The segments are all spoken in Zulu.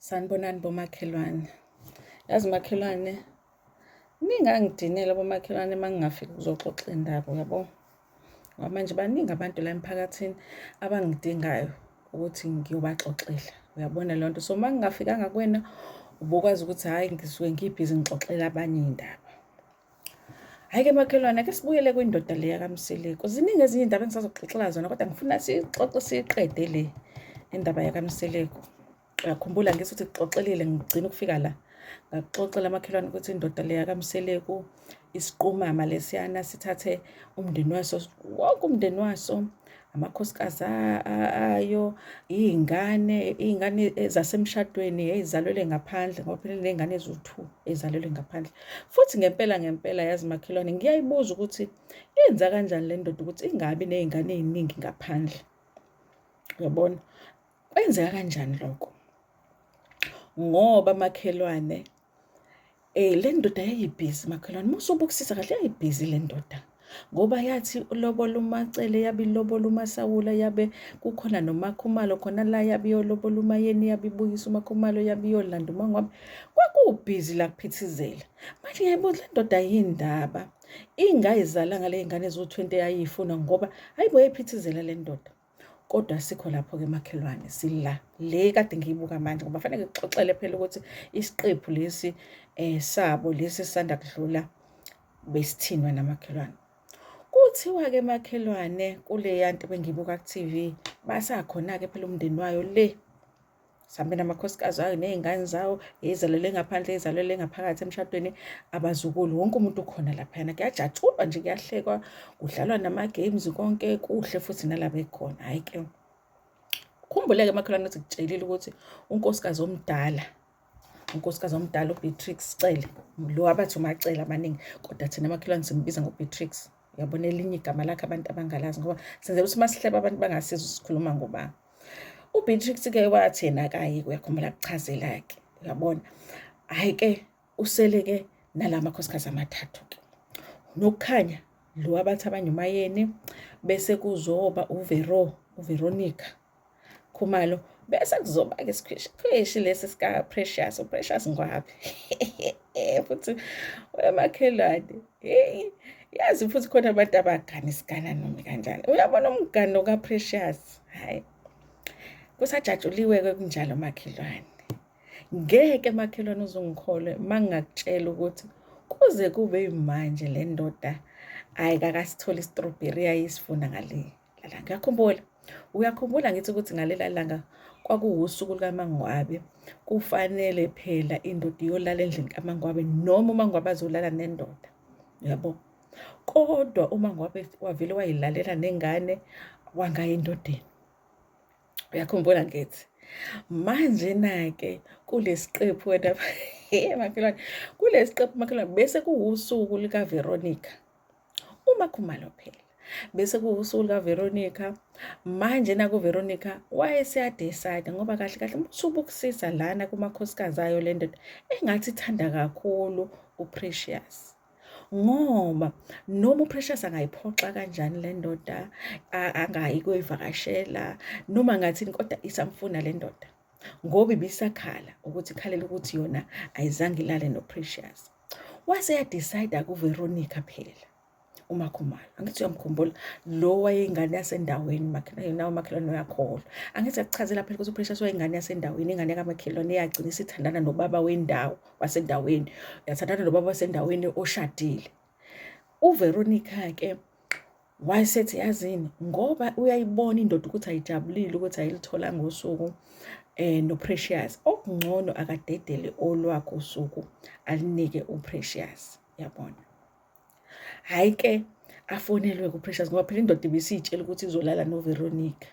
sanibonani bomakhelwane yazi makhelwane ningangidinela bomakhelwane uma ngingafiki kuzoxoxa indaba uyabo ngoba manje baningi abantu la emphakathini abangidingayo ukuthi ngiyobaxoxela uyabona leyo nto so uma ngingafikanga kuwena ubukwazi ukuthi hhayi ngisuke ngibhizi ngixoxela abanye iy'ndaba Hhayi-ke makhelwane ake sibuyele kwindoda le yakamseleku ziningi ezinye iy'ndaba engisazoxoxela zona kodwa ngifuna sixoxe siyiqede le indaba yakamseleku uyakhumbula ngithi ukuthi kuxoxelile ngigcina ukufika la ngakuxoxela amakhelwane ukuthi indoda le yakamseleku isiqumama lesiyana sithathe umndeni waso wonke umndeni waso amakhosikazi ayo iy'ngane iy'ngane zasemshadweni ezalwele ngaphandle ngoba phela ney'ngane eziwu-two ezalwele ngaphandle futhi ngempela ngempela yazi makhelwane ngiyayibuza ukuthi yenza kanjani le ndoda ukuthi ingabi ney'ngane ey'ningi ngaphandle uyabona kwenzeka kanjani lokho ngoba makhelwane Eh le ndoda yayibhizi makhelwane musa ubukisisa kahle yayibhizi le ndoda ngoba yathi ulobola umacele yabe ilobola umasawula yabe kukhona nomakhumalo khona la yabe iyolobola umayeni yabe ibuyisa umakhumalo yabe iyolanda umangwabe kwakubhizi la kuphithizela manje yayibuza le ndoda yindaba ingayizalanga le ngane eziwu-20 yayiyifuna ngoba hayibo yayiphithizela le ndoda kodwa sikho lapho-ke makhelwane sila le kade ngiyibuka manje ngoba fanele ngixoxele phela ukuthi isiqephu lesi um sabo lesi sisanda kudlula besithinwa namakhelwane kuthiwa-ke makhelwane kuleya nto bengiyibuka ku-tv basakhona-ke phela umndeni wayo le sambe namakhosikazi ayo ney'ngane zawo yeyizalele ngaphandle yeyizalele ngaphakathi emshadweni abazukulu wonke umuntu ukhona laphayana kuyajatshulwa nje kuyahlekwa kudlalwa nama-games konke kuhle futhi nalaba ekhona hhayi ke khumbuleke makhelwane ukuthi kutshelile ukuthi unkosikazi omdala unkosikazi omdala ubeatrix cele lo abathi umacele abaningi kodwa thina makhelwane simbiza ngobeatrix uyabona elinye igama lakhe abantu abangalazi ngoba senzela ukuthi masihleba abantu bangasizwa sikhuluma ngobani uBeatrix ke wathi yena akayi kuyakhumbula kuchazela ke uyabona hayi ke usele ke nalama khosikazi amathathu ke nokukhanya lo abathi abanye umayeni bese kuzoba uvero uveronica khumalo bese kuzoba ke sikhweshi lesi sika precious uprecious ngwabi futhi wemakhelwane heyi yazi futhi khona abantu abagana isigana noma kanjani uyabona umgano kaprecious hhayi kusajatshuliwe-ke kunjalo makhelwane ngeke makhelwane uzungikholwe uma ngingakutshela ukuthi kuze kube yimanje le ndoda ayikakasitholi istrobheri yayisifuna ngaleyo Lala ngiyakhumbula. Uyakhumbula ngithi ukuthi ngalela langa kwakuwusuku lukaMangwabe. Kufanele phela indoda iyolala endlini kaMangwabe noma uMangwabe azolala nendoda. Yabo. Kodwa uMangwabe wavele wayilalela nengane wangayi endodeni. Uyakhumbula ngithi. Manje nake kulesiqephu wena hey makhelwane kulesiqephu makhelwane bese kuwusuku lika Veronica. Uma Khumalo phela bese kuwusuku likaVeronica manje nakuVeronica wayeseyadecide ngoba kahle kahle ubusubukusisa lana kumakhosikazi ayo le ndoda engathi ithanda kakhulu uPrecious ngoba noma uPrecious angayiphoxa kanjani le ndoda angayi kuyivakashela noma ngathini kodwa isamfuna le ndoda ngoba ibisakhala ukuthi ikhalela ukuthi yona ayizange ilale noprecious wase yadicide akuveronica phela umakhumalo angithi uyamkhumbula lo wayeyingane yasendaweni nawo makhelwane uyakholwa angithi akuchazela phela ukuthi uprecious wayeyingane yasendaweni ingane yakamakhelwane eyagcina isithandana nobaba wendawo wasendaweni yathandana nobaba wasendaweni oshadile uveronica-ke Wayesethi yazini ngoba uyayibona indoda ukuthi ayijabulile ukuthi ayilithola ngosuku eh noPrecious okungcono akadedele olwakho usuku alinike uPrecious yabona hayi ke afonelwe kuPrecious ngoba phela indoda ibisitshela ukuthi izolala noVeronica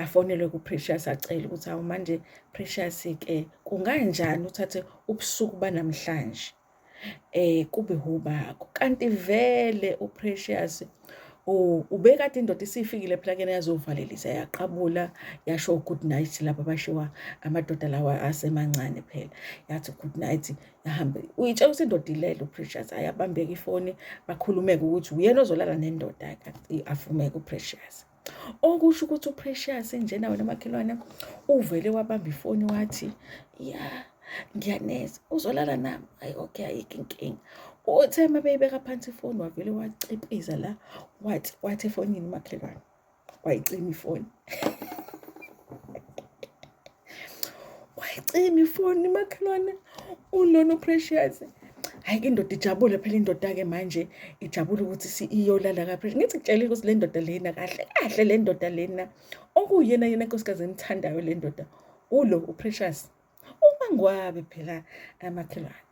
afonelwe kuPrecious acela ukuthi awu manje Precious ke kunganjani uthathe ubusuku banamhlanje eh kube hubako kanti vele uPrecious ubekade indoda isifikile phela kena yazovalelisa yaqabula yasho good night laba bashiwa amadoda lawa asemancane phela yathi good night yahambe uyitshela ukuthi indoda ilele uPrecious ayabambeka ifoni bakhulumeke ukuthi uyena ozolala nendoda ke afumeke uPrecious okusho ukuthi uprecious njena wena makhelwane uvele wabamba ifoni wathi ya ngiyaneza uzolala nami ayi okay ayikho inkinga uthe uma beyibeka phansi ifoni wavele wacipiza la wathi wathi efonini umakhelwane wayicima ifoni wayicima ifoni makhelwane unono precious hayi ke indoda ijabule phela indoda-ke manje ijabule ukuthi iyolala kaphesha ngithi kutshelile ukuthi le ndoda lena kahle kahle le ndoda lena okuyena yena nkosikazi engithandayo le ndoda ulo uprecious uma ngwabe phela amakhelwane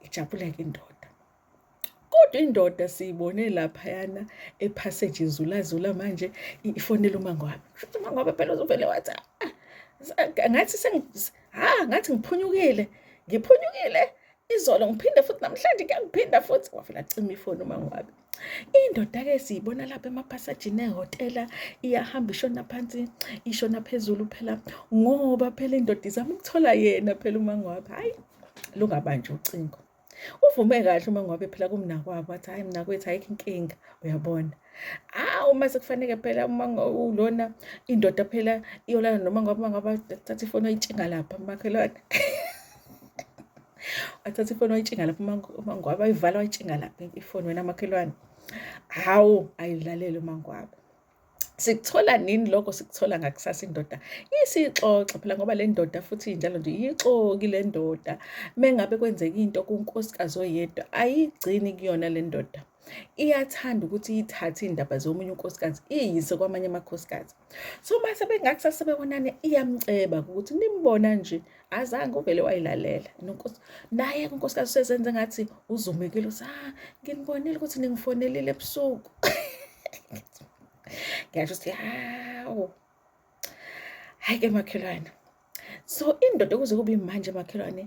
ijabule-ke indoda kodwa indoda siyibone laphayana ephaseji izulazula manje ifonela umangwabe futhi umangwabe phela uzovele wathi ah, ah, ngathi ha ah, ngathi ngiphunyukile ngiphunyukile izolo ngiphinde futhi namhlanje kuyangiphinda futhi wavela cima ifoni umangwabe indoda-ke siyibona lapha emaphasajini ehhotela iyahamba ishona phansi ishona phezulu phela ngoba phela indoda izama ukuthola yena phela umangwabe hhayi lungabanjwa ucingo uvume kahle uma ngobe phela kumnakwabo wathi hayi mnakwethu ayikho inkinga uyabona ah uma sekufaneke phela uma ulona indoda phela iyolala noma ngoba ngoba thatha ifoni oyitshinga lapha makhelwane athatha ifoni oyitshinga lapha uma ngoba ayivala oyitshinga lapha ifoni wena makhelwane hawu ayilalele uma ngoba sikuthola nini lokho sikuthola ngakusasa indoda isixoxe phela ngoba le ndoda futhi njalo nje iyixoki le ndoda mengabe kwenzeka into kunkosikazi oyedwa ayigcini kuyona le ndoda iyathanda ukuthi ithathe indaba zomunye unkosikazi iyise kwamanye amakhosikazi so mase bengakusasa bebonana iyamceba ukuthi nimbona nje azange uvele wayilalela nonkosi naye unkosikazi usezenze ngathi uzumekile uthi ah nginibonile ukuthi ningifonelile ebusuku ngiyasho ukuthi hawu hayi ke makhelwane so indoda kuze kube manje makhelwane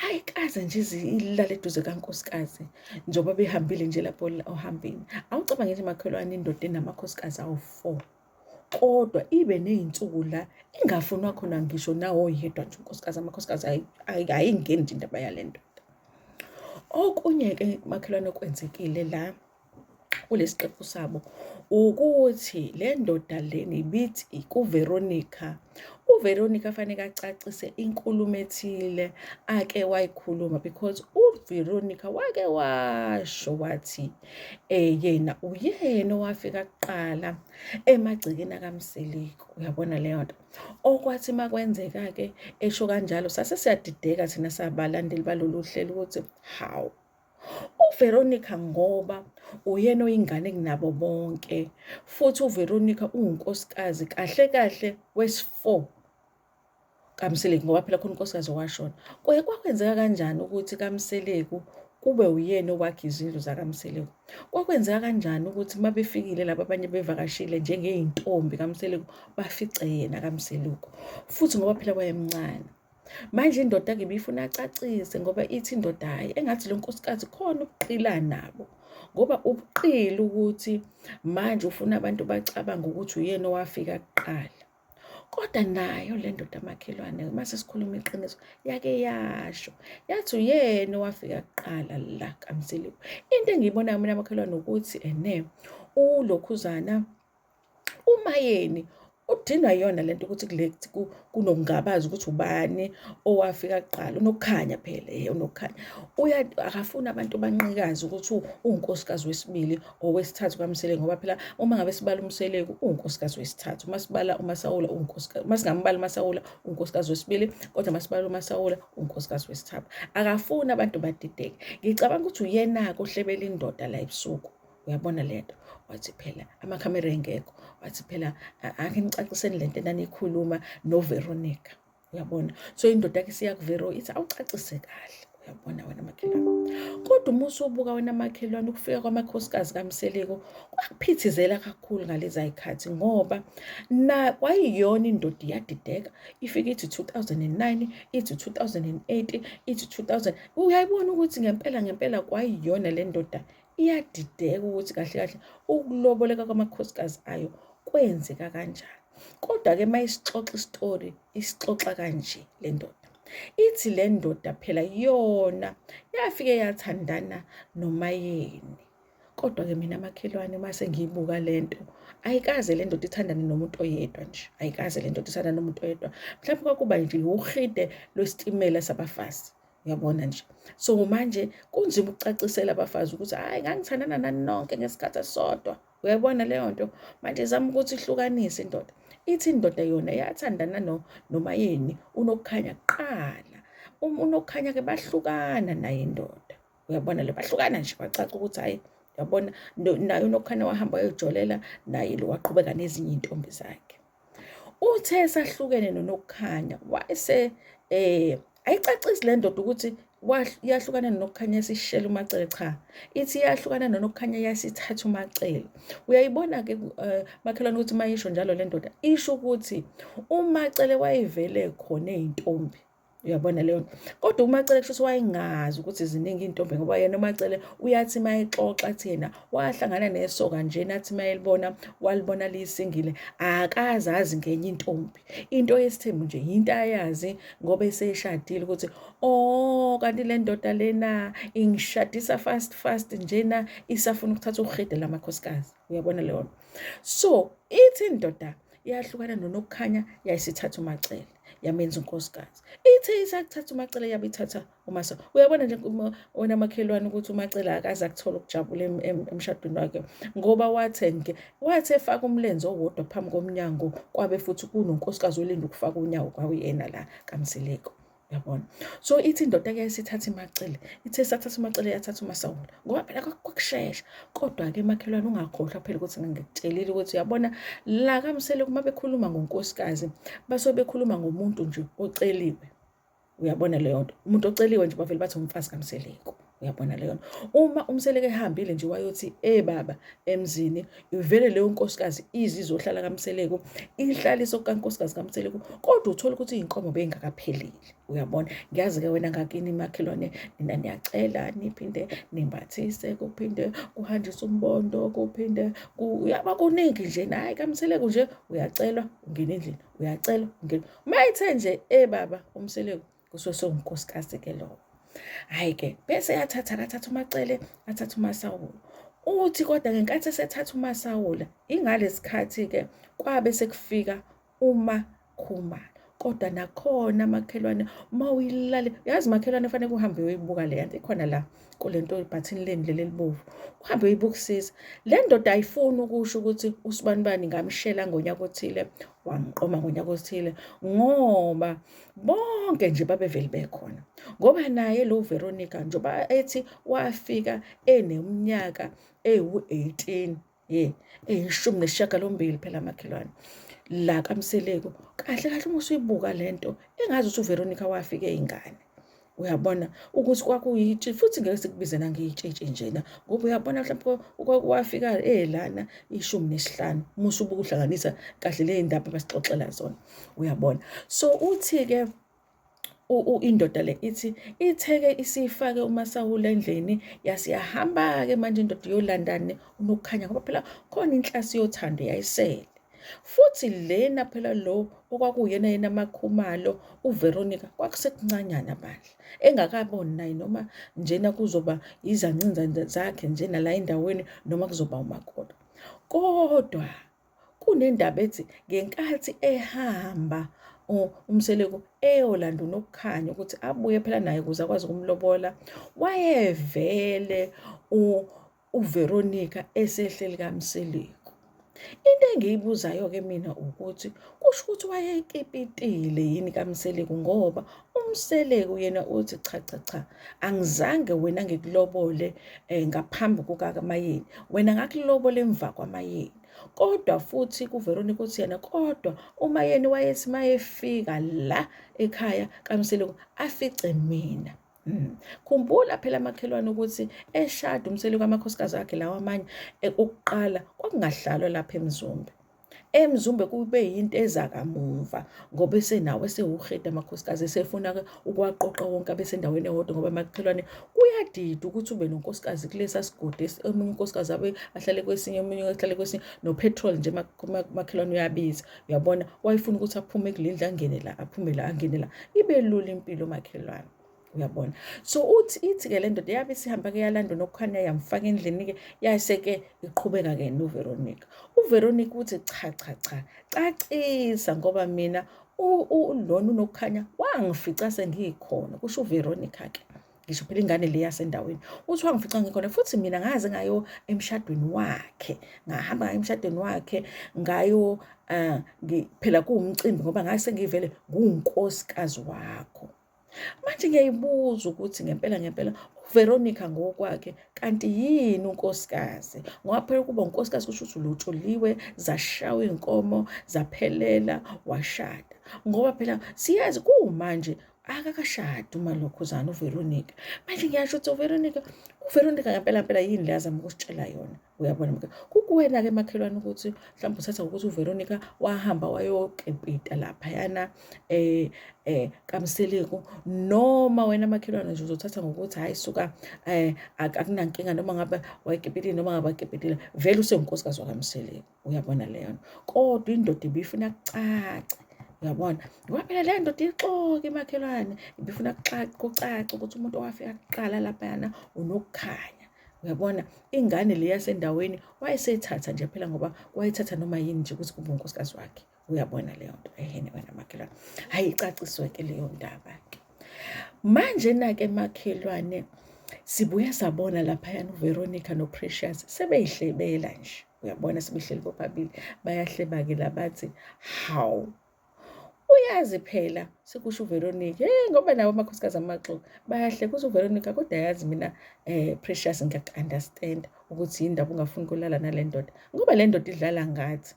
ayikaze nje ilale eduze kankosikazi njengoba behambile nje lapho ohambeni awucabange nje makhelwane indoda enamakhosikazi awu-four kodwa ibe ney'nsuku la ingafunwa khona ngisho nawoyedwa nje unkosikazi amakhosikazi ayingeni nje indaba yale ndoda okunye-ke makhelwane okwenzekile la kulesi qephu sabo ukuthi le ndoda leni ibithi kuveronica uveronica faneke acacise inkulumo ethile ake wayikhuluma because uveronica wake washo wathi eh yena uyena owafika kuqala emagcekeni akamsiliku uyabona leyo nto okwathi makwenzeka ke esho kanjalo sase siyadideka thina sabalandeli balolu hlelo ukuthi hawu uVeronica ngoba uyena oyingane kunabo bonke futhi uVeronica uwunkosikazi kahle kahle wesi4 kaMseleku ngoba phela khona unkosikazi owashona kwaye kwakwenzeka kanjani ukuthi kaMseleku kube uyena owakhe izindlu zakaMseleku kwakwenzeka kanjani ukuthi uma befikile laba abanye bevakashile njengeyintombi kaMseleku bafice yena kaMseleku futhi ngoba phela wayemncane manje indoda ke bifuna acacise ngoba ithi indoda hayi engathi lo nkosikazi khona ubuqila nabo ngoba ubuqili ukuthi manje ufuna abantu bacabanga ukuthi uyena owafika kuqala kodwa nayo le ndoda makhelwane uma sesikhuluma iqiniso yake yasho yathi uyena owafika kuqala la kamsiliwe into engiyibonayo mina makhelwane ukuthi ene ulokhuzana uma yeni udinwa yona lento ukuthi kulect kunokungabaza ukuthi ubani owafika kuqala unokukhanya phela eh unokukhanya uya akafuni abantu banqikaze ukuthi unkosikazi wesibili ngowesithathu kaMseleku ngoba phela uma ngabe sibala uMseleku uwunkosikazi wesithathu uma sibala uMasawula uwunkosikazi uma singambala uMasawula uwunkosikazi wesibili kodwa uma sibala uMasawula uwunkosikazi wesithathu akafuni abantu badideke ngicabanga ukuthi uyena-ke ohlebela indoda la ebusuku uyabona le nto wathi phela amakhamera engekho wathi phela angenicaciseni le nto enaniyikhuluma noveronica uyabona so indoda yakhe siyakuvero ithi awucacise kahle uyabona wena makhelwane kodwa uma usubuka wena makhelwane ukufika kwamakhosikazi kamseleko kwakuphithizela kakhulu ngalezi ayikhathi ngoba na kwayiyona indoda iyadideka ifike ithi 2009 ithi 2008 ithi 2000 uyayibona ukuthi ngempela ngempela kwayiyona le ndoda iyadideka ukuthi kahle kahle ukuloboleka kwamakhosikazi ayo kwenzeka kanjani kodwa ke mayisixoxa istory isixoxa kanje le ndoda ithi le ndoda phela yona yafike yathandana nomayeni kodwa ke mina makhelwane uma sengiyibuka le nto ayikaze le ndoda ithandane nomuntu oyedwa nje ayikaze le ndoda ithandane nomuntu oyedwa mhlawumbe kwakuba nje uhide lwesitimela sabafazi uyabona nje so manje kunzima ukucacisela abafazi ukuthi hayi ngangithandana nani nonke ngesikhathi esisodwa uyayibona leyo nto manje zama ukuthi ihlukanise indoda ithi indoda yona yathandana no nomayeni unokukhanya kuqala uma unokukhanya ke bahlukana naye indoda uyabona le bahlukana nje bacaca ukuthi hayi yabona naye unokukhanya wahamba wayojolela naye lo waqhubeka nezinye intombi zakhe Uthe esahlukene noNokukhanya wayese eh ayicacisi le ndoda ukuthi yahlukana nokukhanya sishela umacele cha ithi yahlukana nokukhanya yasithatha umacele uyayibona ke eh, makhelwane ukuthi mayisho njalo le ndoda isho ukuthi umacele wayevele khona ezintombi uyabona leyo nto kodwa umacele kusho wayengazi ukuthi ziningi iy'ntombi ngoba yena umacele uyathi uma exoxa athi yena wahlangana nesoka njena athi uma elibona walibona liyisingile akazazi ngenye intombi into yesithembu nje yinto ayazi ngoba eseshadile ukuthi o oh, kanti le ndoda lena ingishadisa fast fast njena isafuna ukuthatha ukurhede lamakhosikazi uyabona leyo nto so ithi indoda yahlukana nonokukhanya yayisithatha umacele yamenza unkosikazi ithe isakuthatha umacela yabe ithatha umasa uyabona nje wena makhelwane ukuthi umacela akaze akuthola ukujabula emshadweni wakhe ngoba wathenge wathi efaka umlenze owodwa phambi komnyango kwabe futhi kunonkosikazi olinda ukufaka unyawo kwawuyena la kamsileko yabona so ithi indoda ke isithatha imacele ithe sathatha imacele yathatha umasawula ngoba phela kwakushesha Kodwa-ke makhelwane ungakhohlwa phela ukuthi ngikutshelile ukuthi uyabona la kamsele uma bekhuluma ngonkosikazi basuke bekhuluma ngomuntu nje oceliwe uyabona leyo nto umuntu oceliwe nje bavele bathi umfazi kamseleko uyabona leyo nto uma umseleko ehambile nje wayothi e baba emzini ivele leyo nkosikazi izi izohlala kamseleko ihlalise kukankosikazi kamseleko kodwa uthole ukuthi iy'nkomo bey'ngakaphelile uyabona ngiyazi-ke wena ngakini makhelwane nina niyacela niphinde nimbathise kuphinde kuhanjiswe umbondo kuphinde uyaba kuningi nje naye kamseleku nje uyacelwa ungena endlini uyacelwa ungena uma ethe nje e baba umseleku kusuke sewunkosikazi-ke lowo hhayi-ke bese yathatha kathatha umacele athatha umasawulo uthi kodwa ngenkathi esethatha umasawula ingalesikhathi-ke kwabe sekufika uma khumalo kodwa nakhona makhelwane uma uyilale yazi makhelwane fanele kuhambe uyoyibuka le yanto ikhona la kule nto ibhathini leni leli elibovu uhambe uyibukusisa le ndoda ayifuni ukusho ukuthi usibani bani ngamshela ngonyaka othile wangiqoma ngonyaka othile ngoba bonke nje babeveli bekhona ngoba naye lo Veronica njengoba ethi wafika eneminyaka ewu-18 ye eyishumi nesishiyagalombili phela makhelwane la kamseleku kahle kahle uma usuyibuka le nto engazi ukuthi uveronica wafike ingane uyabona ukuthi kwakuyitshe futhi ngeke sikubize nangeyitshetshe njena ngoba uyabona mhlawumbe kwakuwafika elana eh, ishumi nesihlanu musa ubukuhlanganisa kahle le ndaba basixoxela zona uyabona so uthi-ke indoda le ithi itheke isifake umasahula endlini yasiyahamba-ke manje indoda iyolandani unokukhanya ngoba phela khona inhlasi yothando yayisele futhi lena phela lo okwakuyena yena makhumalo uVeronica kwakusekuncanyana bandla engakaboni naye noma njena kuzoba izancinza zakhe njena la endaweni noma kuzoba umakoti kodwa Kunendaba ethi ngenkathi ehamba uMseleku eyolanda uNokukhanya ukuthi abuye phela naye ukuze akwazi ukumlobola, wayevele uVeronica esehleli kaMseleku. Into engiyibuzayo-ke mina ukuthi kusho ukuthi wayekipitile yini kaMseleku ngoba UMseleku yena uthi cha cha cha angizange wena ngikulobole eh, ngaphambi kukaMayeni wena ngakulobole emva kwaMayeni kodwa futhi kuVeronica uthi yena kodwa uMayeni wayethi mayefika la ekhaya kaMseleku afice mina Mm. Khumbula phela makhelwane ukuthi eshada umseli kwamakhosikazi akhe lawa amanye eh, okuqala kwakungahlalwa lapha eMzumbe. emzumbe kube yinto eza kamumva ngoba esenawo esewuhede amakhosikazi esefuna ukuwaqoqa wonke abesendaweni ewodwa ngoba emakhelwane kuyadida ukuthi ube nonkosikazi kulesa sigodi omunye unkosikazi abe ahlale kwesinye omunye ahlale kwesinye nopetrol nje makhelwane uyabiza uyabona wayefuna ukuthi aphume kule ndlu angene la aphume la angene la ibe lula impilo makhelwane uyabona so uthi ithi-ke le ndoda yabe sihamba-ke yalanda nokukhanya yamfaka endlini-ke yase-ke iqhubeka-ke noveronica uveronica uthi cha cha cha cacisa ngoba mina lona unokukhanya wangifica sengiyikhona kusho uveronica-ke ngisho phela ingane le yasendaweni uthi wangifica ngikhona futhi mina ngaze ngayo emshadweni wakhe ngahamba ngayo emshadweni wakhe ngayo um phela kuwumcimbi ngoba ngase ngivele nguwunkosikazi wakho Manje ngiyayibuza ukuthi ngempela ngempela uVeronica ngokwakhe kanti yini unkosikazi ngoba phela ukuba unkosikazi kusho ukuthi ulutshuliwe zashawa inkomo zaphelela washada ngoba phela siyazi kumanje akakashadi umalokhuzana uVeronica manje ngiyasho ukuthi uVeronica uVeronica ngempela ngempela yini le azama ukusitshela yona uyabona mka kukuwena-ke makhelwane ukuthi mhlawumbe uthatha ngokuthi uveronica wahamba wayokepita laphayana um um kamseleku noma wena makhelwane nje uzothatha ngokuthi hhayi suka um akunankinga noma ngabe wayekepitile noma ngabe akepitile vele usengunkosikazi wakamseleku uyabona leyo nto kodwa indoda ibiyifuna kucace uyabona kwaphela le ndoda ixoke imakhelwane ibifuna kucace kucace ukuthi umuntu owafika kuqala laphayana unokukhanya uyabona ingane le yasendaweni wayesethatha nje phela ngoba wayethatha noma yini nje ukuthi kube unkosikazi wakhe uyabona leyo nto ehene wena makhelwane hhayi icaciswe-ke leyo ndaba-ke manje-na-ke makhelwane sibuya sabona laphayana uveronica noprecious sebeyihlebela nje uyabona sebehleli bobabili bayahleba-ke labathi hawu uyazi phela sekusho uVeronica hey ngoba nabo amakhosikazi amaxoki bayahle kuze uVeronica kodwa yazi mina eh precious ngiyakunderstand ukuthi yindaba ungafuni kulala nale ndoda ngoba le ndoda idlala ngathi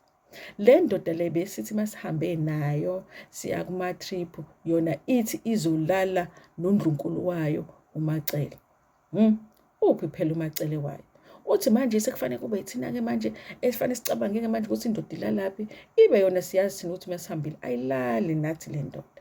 le ndoda le besithi masihambe nayo siya kuma trip yona ithi izolala nondlunkulu wayo umacele Hmm. Uphi phela umacele wayo? Uthi manje sekufanele kube ithina-ke manje esifanele sicabange-ke manje ukuthi indoda ilalaphi ibe yona siyazi thina ukuthi masihambile ayilali nathi le ndoda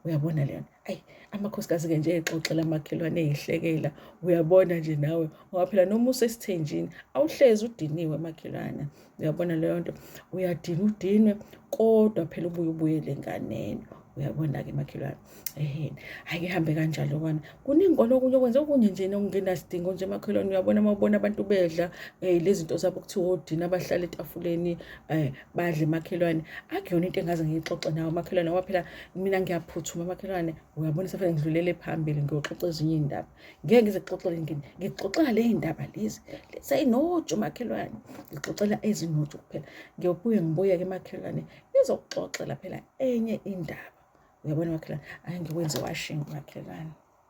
uyabona leyona ayi amakhosikazi-ke nje exoxela amakhelwane eyihlekela uyabona nje nawe ngoba phela noma usesithenjini awuhlezi udiniwe makhelwana uyabona leyo nto uyadina udinwe kodwa phela ubuye ubuyele enganeni uyabona-ke makhelwane eheni hhayi kuhambe kanjalo kwana kuningi kona okunye okwenze okunye nje nokungenasidingo nje makhelwane uyabona uma ubona abantu bedla um eh, lezi nto zabo kuthiwa odina abahlala etafuleni um badle makhelwane akuyona into engaze ngiyixoxe nawo makhelwane ngoba phela mina ngiyaphuthuma makhelwane uyabona sefane ngidlulele phambili ngiyoxoxa ezinye iy'ndaba ngeke ngize kuxoxele ngini ngixoxela le ndaba lezi seyinoju makhelwane ngixoxela ezinoju kuphela ngiyobuye ngibuyeke emakhelwane ngizokuxoxela phela enye indaba uyabona makhelwane ayi ngiwenze washingi makhelwane